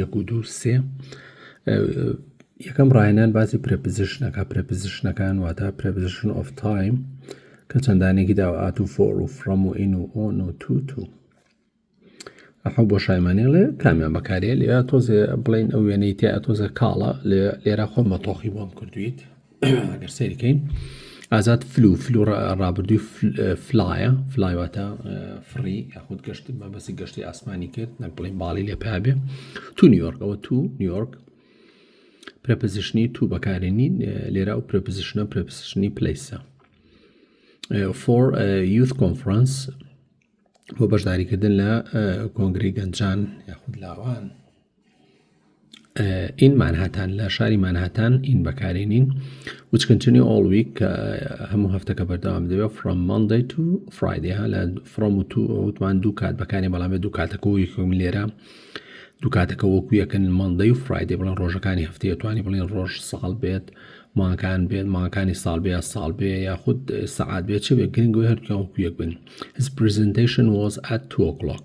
یەک و دوو سێ یەکەم ڕاهێنان باسی پرەپزیشنەکە پرەپزیشنەکان واتە پرەپزیشن ئۆف تایم کە چەندانێکی داوات و فۆر و فڕەم و ئین و ئۆن و تو تو ئەحە بۆ شایمانێڵێ کامیان بەکارێ لێ تۆزێ بڵین ئەو وێنەی تیا تۆزە کاڵە لێرە خۆمە تۆخی بۆم کردویت ئەگەر سەیری کەین ئازاد فلو فلو ڕابردووی فلایە فلایواتە فڕی یاخود گەشت مەبەسی گەشتی ئاسمانی کرد نەک بڵین باڵی لێ پابێ تو نیویۆرکەوە تو نیویۆرک پرەپزیشنی تو بەکارێنی لێرا و پرەپزیشنە پرەپزیشنی پلیسە فۆر یوث کۆنفرانس بۆ بەشداریکردن لە کۆنگری گەنجان یاخود لاوان ئین مانهاتان لە شاری مانهاتان ئین بەکارێنین which continue all week کە هەموو هەفتەکە بەردەوام دەبێت from Monday to Friday ها لە from و to وتمان دوو کات بەکارێن بەڵام بێت دوو کاتەکە و یەکم لێرە دوو کاتەکە وەکو یەکەن مانگدەی و فرایدێ بڵێن ڕۆژەکانی هەفتەیە توانی بڵێن ڕۆژ ساڵ بێت ماکان بێت ماکانی ساڵ بێ ساڵ بێ یاخود سعات بێت چ بێت گرنگەوەی هەردووکیان وەکو یەک بن هز پرزنتیشن وۆز ئەت تو ئۆکڵۆک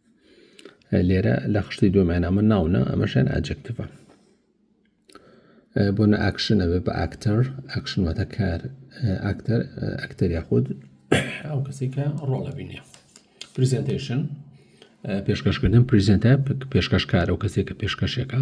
لێرە لە خشتی دوێمانامە ناونە ئەمەشیان ئاجکتفە بۆ نە ئاکشن ئەبێ بە ئاکتەر ئاکشن واتە کار ئاکتەر ئەکتەر یاخود ئەو کەسی کە ڕۆڵە بینێ پریزنتشن پێشکەشکردن پریزنتە پێشکەشکار ئەو کەسێک کە پێشکەشەکە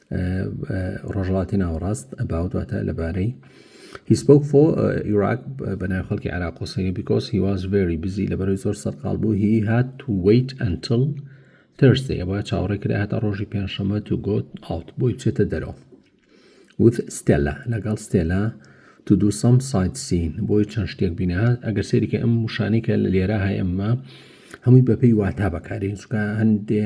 ڕۆژڵاتی ناوەڕاست ئەباوت واتە لەبارەی هیسپۆک فۆ ئیراک بەناو خەڵکی عراق و سری بیکۆس هیواز ڤێری بزی لەبەرەوەی زۆر سەرقال بوو هی هات تو ویت ئەنتل ترسێ ئەوە چاوەڕێ کرا هەتا ڕۆژی پێنجشەمە تو گۆت ئاوت بۆی بچێتە دەرەوە وت ستێلا لەگەڵ ستێلا تو دوو سەم سایت سین بۆی چەند شتێک بینە ئەگەر سێریکە ئەم وشانێکە لە لێرە هەیە ئەمە هەمووی بەپێی واتا بەکارین چکە هەندێ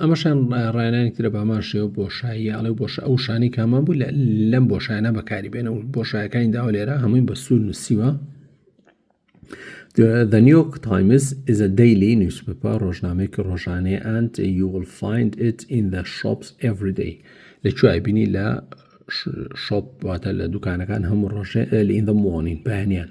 ئەمەشیان ڕایانانی ترە بامان شێوە بۆشاییە ئەڵێ بۆش ئەو شانەی کامان بوو لەم بۆشایانە بەکاری بێنە و بۆشایەکانی داوا لێرە هەمووی بە سوور نووسیوە The New York Times is a daily newspaper ڕۆژنامەیەکی ڕۆژانەیە and you will find it in the shops every day لە کوێ بینی لە شۆپ واتە لە دوکانەکان هەموو ڕۆژێ لە in the morning بەیانیان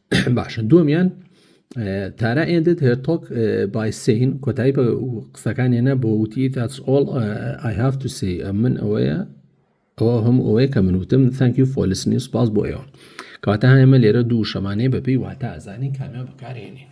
باشە دووەمیان تارا ئێندت هێرتۆک بای سین کۆتایی بە قسەکان هێنا بۆ وتی تاچ ئۆڵ ئای هاف تو سی من ئەوەیە ئەوە هەم ئەوەیە کە من وتم ثانکیو فۆلس نیوز پاس بۆ ئێوە کەواتە هەمە لێرە دوو شەمانەیە بەپی واتە ئازانی کامیان بەکارێنین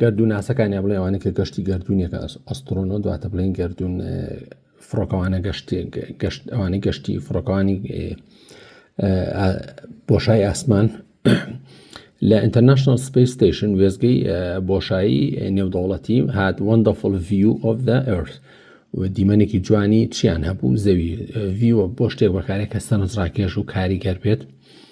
گەردووناسەکانیان بڵێ ئەوانە کە گەشتی گەردوونیەکە ئەسترۆنۆ دواتە بڵێن گەردوون فڕۆکەوانە گەشت گەشت ئەوانەی گەشتی فڕۆکەوانی بۆشای ئاسمان لە ئینتەرنشنل سپیس ستیشن وێزگەی بۆشایی نێودەوڵەتی هات وەندەفل ڤیو of the earth و دیمەنێکی جوانی چیان هەبوو زەوی ڤیوە بۆ شتێک بەکارێک کە سەرنجڕاکێش و کاریگەر بێت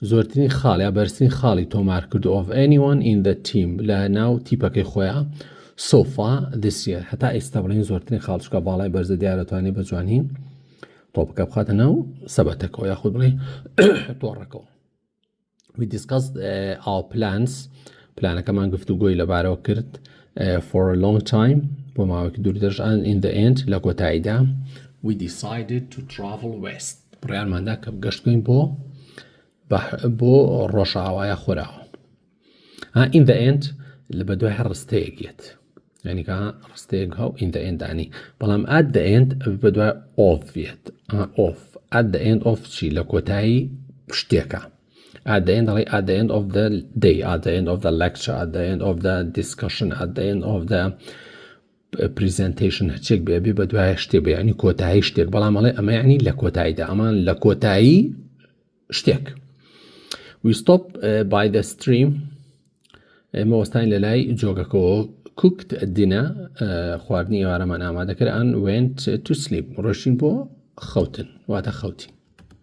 زۆرترین خاڵ یا بەرزترین خاڵی تۆمارکرد of anyone in the team لە ناو تیپەکەی خۆیا so far this year هەتا ئێستا بڵێن زۆرترین خاڵ چکە باڵای بەرزە دیارە توانێت بە جوانی تۆپەکە بخاتە ناو سەبەتەکەەوە یاخود بڵێ تۆڕەکەەوە we discussed uh, our plans پلانەکەمان گفتو گۆی لەبارەوە کرد uh, for a long time بۆ ماوەکی دوور دەژان in the end لە کۆتاییدا we decided to travel west بڕیارماندا کە گەشتکەین بۆ بۆ ڕۆژاوایە خۆراوە ئین دە ئێند لە بە دوای هەر ڕستەیەک یەت ینیکە ڕستەیەک هاو ئین دە ئێندانی بەڵام ئات دە ئێند بە دوای ئۆفێت ئۆف ئات دە ئێند ئۆف چی لە کۆتایی شتێکە at the end like at the end of the day at the end of the lecture at the end of the discussion at the end of the پریزەنتەیشن هەرچێک بێ بێ بە دوایە شتێ بەیانی کۆتایی شتێک بەڵام ئەڵێ ئەمە ینی لە کۆتاییدا ئەمان لە کۆتایی شتێک ویستۆپ بای دە ستریم ئێمە وەستانی لە لای جۆگەکەەوە کوکت دینە خواردنی ئێوارەمان ئامادەکران وێنت تو سلیپ ڕۆشتین بۆ خەوتن واتە خەوتین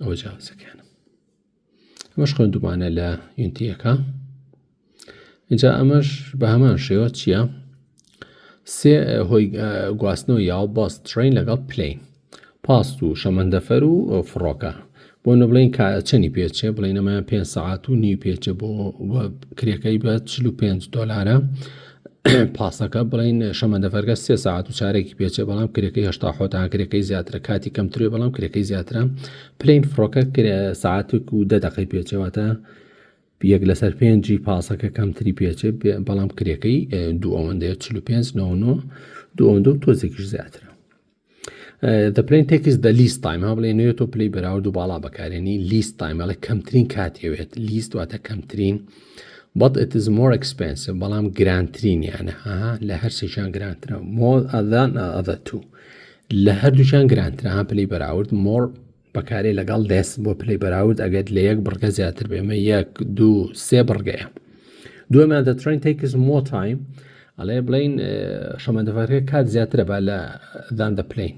ئەوە جاوزەکانم ئەمەش خوێندومانە لە یونتیەکە اینجا ئەمەش بە هەمان شێوە چییە؟ سێ هۆی گواستنەوە یاو باس ترین لەگەڵ پلین پاست و شەمەندەفەر و فڕۆکە بۆ نە بڵین کا چەنی پێچێ بڵێ نەمایان پێ سەعات و نیو پێچە بۆ کرێکەی بە 45 دلارە پاسەکە بڵین شەمەندەفەرگە سێ ساعت و چارێکی پێچێ بەڵام کرێکەی هشتا حۆتان کرێکەی زیاترە کاتی کەمترێ بەڵام کرێکەی زیاترە پلین فڕۆکە کرێ ساعتێک و دە دەقی پێچەوەتە یەک لەسەر پێنجی پاسەکە کەمتری پێچێ بەڵام کرێکەی دوو ئەوەندەیە 45 دو ئەوەندە و تۆزێکیش زیاترە دە پلین تێکس دە لیست تایم ها بڵێ نوێت و پلی بەراورد و باڵا بەکارێنی لیست تایمەڵە کەمترین کاتێوێت لیست واتە کەمترین بەڵ ئتز مۆر ئەکسپنسە بەڵام گرانترینیانە ها لە هەر سێکیان گرانترە مۆ ئەدان ئەدە تو لە هەردووچان گرانترە ها پلی بەراورد مۆر بەکارێ لەگەڵ دەس بۆ پلەی بەراورد ئەگەر لە یەک بڕگە زیاتر بێمە یەک دوو سێ بڕگەیە دوێمان دەترین تێکس مۆ تایم ئەڵێ بڵین شەمەندەفەرەکە کات زیاترە با لە دان دەپلین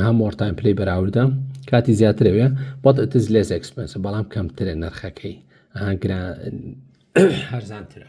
ها مۆرتایم پلی بەراوردە کاتی زیاترەوێ بەڵ ئەتز لێس ئەکسپنس بەڵام کەمترە نرخەکەی هەرزانترە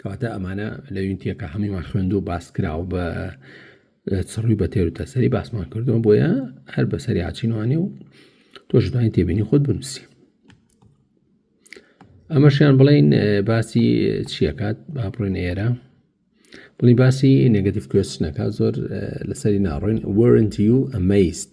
کەواتە ئەمانە لە یونتیەکە هەموویمان خوێند و باس کراوە بە چڕوی بە تێر و تەسەری باسمان کردووە بۆیە هەر بەسەری هاچینوانێ و تۆشتوانین تێبینی خۆت بنووسی ئەمەشیان بڵین باسی چیەکات با بڕێن ئێرە بڵی باسی نگەتیف کوێستنەکە زۆر لەسەری ناڕۆین وەرنتی و ئەمەیست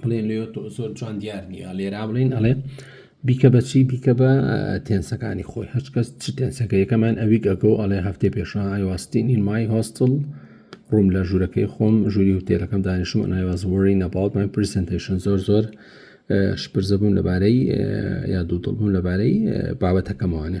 بڵێن لێ تۆ زۆر جوان دیار نییە لێرا بڵین ئەڵێ بیکە بەچی بیکە بە تێنسەکانی خۆی هەچ کەس چ تێنسەکە یەکەمان ئەوی گەگە و ئەڵێ هەفتێ پێشە ئایواستینین مای هۆستڵ ڕووم لە ژوورەکەی خۆم ژووری وتێلەکەم دانیشم ئەنایوازوەری نەباوت من پرسنتیشن زۆر زۆر شپرزە بوون لەبارەی یا دوو دڵبوون لەبارەی بابەتەکەمانێ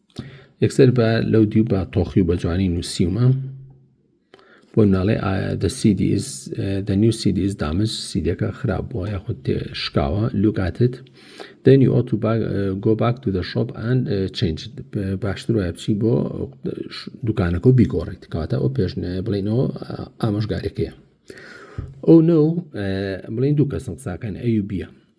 یەکسەر بە لەو دیو بە تۆخی و بە جوانی نووسیومە بۆ ناڵێ دەنیو سیدی ئیز دامج سیدەکە خراپ بووە یاخود تێ شکاوە لوکاتت دەنی ئۆت و گۆ باک تو دە شۆپ ئەن چنج باشتر وایە بچی بۆ دوکانەکە و بیگۆڕیت کاتە ئەو پێشنە بڵێنەوە ئامۆژگارەکەیە ئەو نە بڵین دوو کەسم قساکەن ئەوی بیە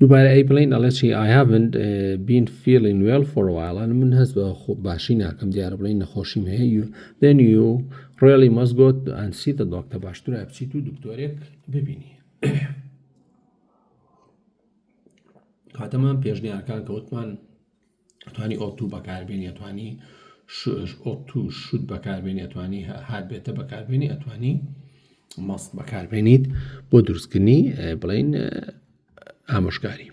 دووبارە ئەی بڵین ئەڵێ چی I haven't been feeling well for a while من هەست بە باشی ناکەم دیارە بڵین نەخۆشیم هەیە then you really must go and see the doctor باشترە بچیت و دکتۆرێک ببینی کاتەمان پێشنیارکان کەوتمان ئەتوانی ئۆتو بەکاربێنی ئەتوانی ئۆتو شوت بەکاربێنی ئەتوانی هات بێتە بەکاربێنی ئەتوانی مەست بەکاربێنیت بۆ دروستکردنی بڵین ئامۆژگاری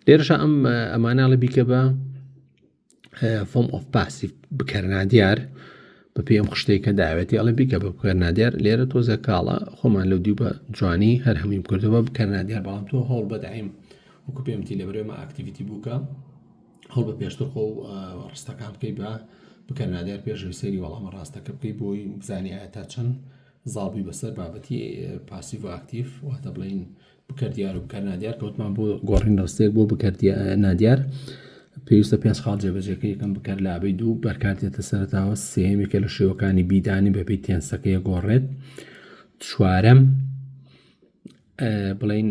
لێرەشە ئەم ئەمانناڵە بیکە بە فۆم ئۆف پاسیف بکەرنا دیار بەپێی ئەم خشتەی کە داوێتی ئەڵێ بیکە بە بکەرنادیار لێرە تۆزە کاڵە خۆمان لەو دیو بە جوانی هەر هەمیم کردەوە بکەرنادیار بەڵام تۆ هەوڵ بەدایم وەکو پێمتی لە برێمە ئاکتیویتی بووکە هەڵ بە پێشتر خۆ ڕستەکان بکەی بە بکەرنادیار پێشەوی سەری وەڵامە ڕاستەکە بکەی بۆی بزانانی تا چەند زاڵبووی بەسەر بابەتی پاسیڤ ئاکتیف واتە بڵین بکەر دیار و بکەر نادیار کەوتمان بۆ گۆڕین ڕستێک بۆ بکەر نادیار پێویستە پێنج خاڵ جێبەجێکە یەکەم بکەر لابەی دوو بەرکاتێتە سەرتاوە سێمێکە لە شێوەکانی بیدانی بەبی تێنسەکەی گۆڕێت چوارەم بڵین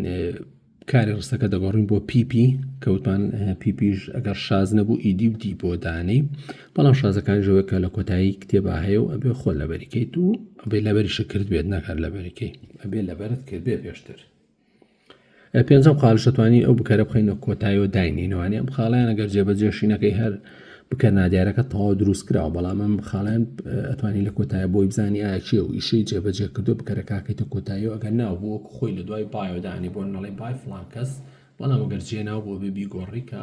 کاری ڕستەکە دەگۆڕین بۆ پیپی کەوتمان پیپیش ئەگەر شاز نەبوو ئیدی و دی بۆ دانەی بەڵام شازەکانی ژەوەکە لە کۆتایی کتێبا هەیە و ئەبێ خۆ لەبەری کەیت و ئەبێ لەبەریشە کرد بێت ناکار لەبەریکەی ئەبێ لەبەرت کرد بێ پێشتر پێنجەم قالشەتوانی ئەو بکەرە بخینە کۆتایەوە داینینەوانی ئەم خاڵیان ئەگەر جێبەجێشینەکەی هەر بکە نادیارەکە تەواو دروست کراوە بەڵام ئەم خاڵیان ئەتوانی لە کۆتایە بۆی بزانانی ئاچێ و ئیشەی جێبەجێ کردو بکەرە کاکەیتە کۆتایی و ئەگەر ناو بۆ خۆی لە دوای بایۆدانی بۆ نەڵی بای فلانکەس بەڵام ئەگەر جێ ناو بۆ بێ بیگۆڕیکە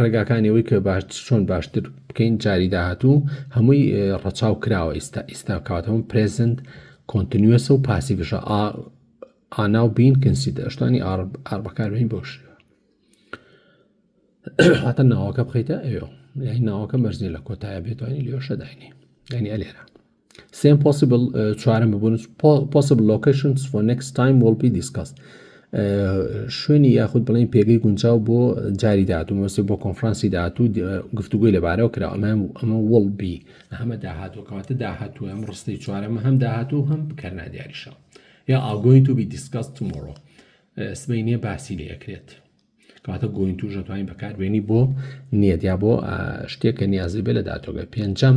ڕێگاکانی ئەوەی کە باشتر چۆن باشتر بکەین جاری داهاتوو هەمووی ڕەچاو کراوە ئیستا ئیستا کاتەوەم پرێزنت کۆنتنیوسە و پاسیڤشە ئانا و بین کنسی دەشتانی ئار بەکاربین بۆشی هاتە ناوەکە بخیتە ئەوێ یعنی ناوەکە مەرزنی لە کۆتایە بێتوانانی لێشە داینی ینی ئەلێرە سێم پۆسیبل چوارم ببوون پۆسیبل لۆکیشنز فۆر نێکست تایم وڵ بی دیسکاست شوێنی یاخود بڵێن پێگەی گونجاو بۆ جاری داهاتوو مەسێ بۆ کۆنفرانسی داهاتوو گفتوگوی لەبارەوە کرا ئەمە ئەمە وڵ بی هەمە داهاتوو کەواتە داهاتوو ئەم ڕستی چوارەمە هەم داهاتوو هەم بکەرنا دیاریشە یا ئاگۆین تو بی دیسکاس تمۆڕۆ سبینێ باسی لێ ئەکرێت کەواتە گۆین توش دەتوانین بەکاربیێنی بۆ نیەت یا بۆ شتێک کە نیازی بێ لە دااتۆگە پێنجەم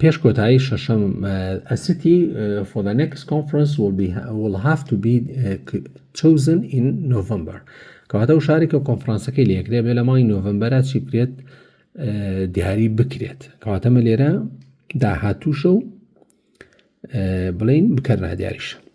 پێش کۆتایی شەشەم ئەسیتی for the next conference will be will have to be chosen in November کەواتە و شارێک و کۆنفرانسەکەی لەکرێ بێ لە مای نۆڤمبەرە چی بکرێت دیاری بکرێت کەواتەمە لێرە داهاتووشە و بڵین بکەرنا دیاریشە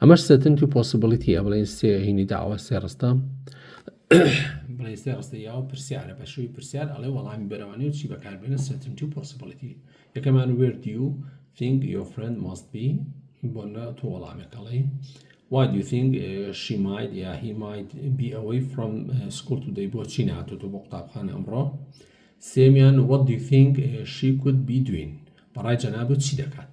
ئەمەش سێتنت و پۆسبڵیتیە بڵێن سێ هینی داوە سێ ڕستە بڵێ سێ ڕستە یاوە پرسیارە بە شووی پرسیار ئەڵێ وەڵامی بەرەوانی و چی بەکاربێنە سێتنت و پۆسبڵیتی یەکەمان وێرد و think your friend must be بۆ نە تۆ وەڵامێکەڵی Why do you think uh, she might یا yeah, he might be away from uh, school today بۆچی ناتۆتۆ بۆ قوتابخانە ئەمڕۆ سێمیان What do you think uh, she could be doing بەڕای جەنابەت چی دەکات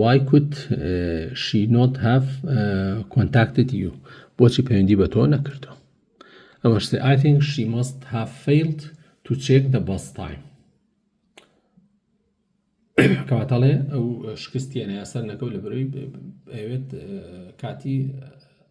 وای کوت شی نۆت هاف کۆنتاکتد یو بۆچی پەیوەندی بە تۆ نەکردووە ئەوەش ئای ثینک شی ماست هاف فەیلد تو چێک دە باس تایم کەواتەڵێ ئەو شکستیانە یاسەر نەکەوت لە بەرەوەی ئەوێت کاتی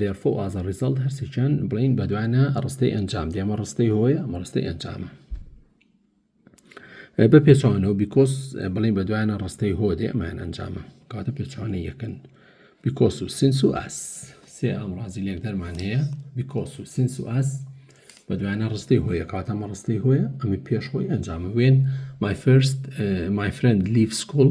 Therefore as a result هەرسێکیان بڵین بەدوایە ڕستەی ئەنجام دێمە ڕستەی هۆیە ئەمە ڕستەی ئەنجامە بە پێچوانەوە بیکۆس بڵین بەدوایە ڕستەی هۆ دێ ئەمان ئەنجامە کاتە پێچوانە یەکەن بیکۆس و سنس و ئاس سێ ئامڕازی لێک دەرمان هەیە بیکۆس و سنس و ئاس بە دوایە ڕستەی هۆیە کاتەمە ڕستەی هۆیە ئەمە پێش خۆی ئەنجامە وێن مای فرست مای فرند لیف سکوڵ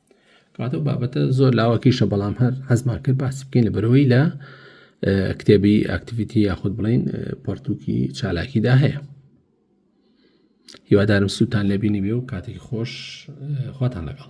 کاتە و بابەتە زۆر لاوەکیشە بەڵام هەر حەزمان کرد باسی بکەین لە بەرەوەی لە کتێبی ئاکتیڤیتی یاخود بڵین پەرتووکی چالاکیدا هەیە هیوادارم سووتان لەبینی بێ و کاتێکی خۆش خواتان لەگەڵ